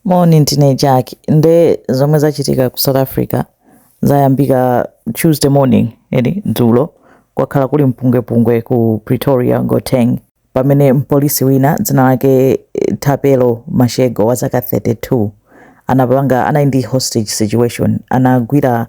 Moni ndine Jack nde zomwe zachitika ku South Africa zayambika Tuesday morning eti dzulo kwakhala kuli mpungwepungwe ku Pretoria Gauteng pamene mpolisi wina dzina lake Thapelo Mashego wa zaka 32 anapanga anali ndi hostage situation anagwira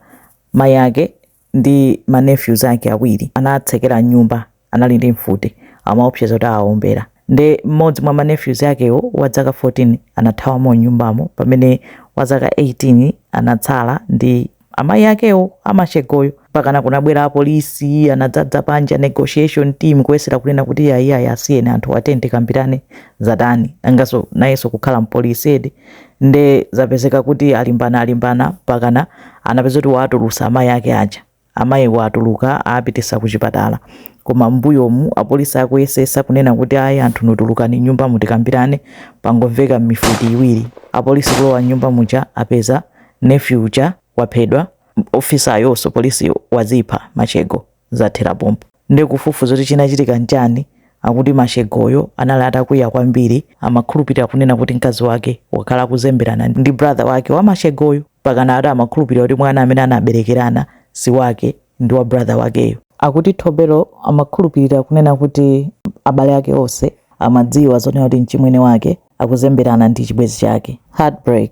mayi ake ndi ma nephews ake awiri anatsekera mnyumba anali ndi mfuti amaopseza kuti awaombera nde mmodzi mwa ma nephews akewo wa dzaka 14 anathawamo mnyumbamo pamene wa zaka 18 anatsala ndi amayi akewo a Mashegoyo mpakana kunabwera apolisi anadzadza panja negotiation team kuyesera kunena kuti ayiayi asiyeni anthu atuluke tikambirane zatani nangaso nayeso kukhala mpolisi eti nde zapezeka kuti alimbana alimbana mpakana anapeza kuti wawatulutsa amayi ake aja amayiwa atuluka awapititsa kuchipatala koma m'mbuyomu apolisi akuyesetsa kunena kuti ayi anthu inu tulukani mnyumbamu tikambirane pangomveka mfuti ziwiri apolisi kulowa mnyumba muja apeza nephew uja waphedwa ofisayonso police wadzipha Mashego zathera pompo Nde kufufuza kuti chinachitika nchani akuti Mashegoyo anali atakwiya kwambiri amakhulupilira kunena kuti mkazi wake wakhala akuzemberana ndi brother wake wa Mashegoyo mpakana ati amakhulupilira kuti mwana amene anabelekerana si wake ndi wa brother wakeyo. Akuti Thapelo amakhulupilira kunena kuti abale ake onse amadziwa zonena kuti mchimwene wake akuzemberana ndi chibwenzi chake. Heartbreak.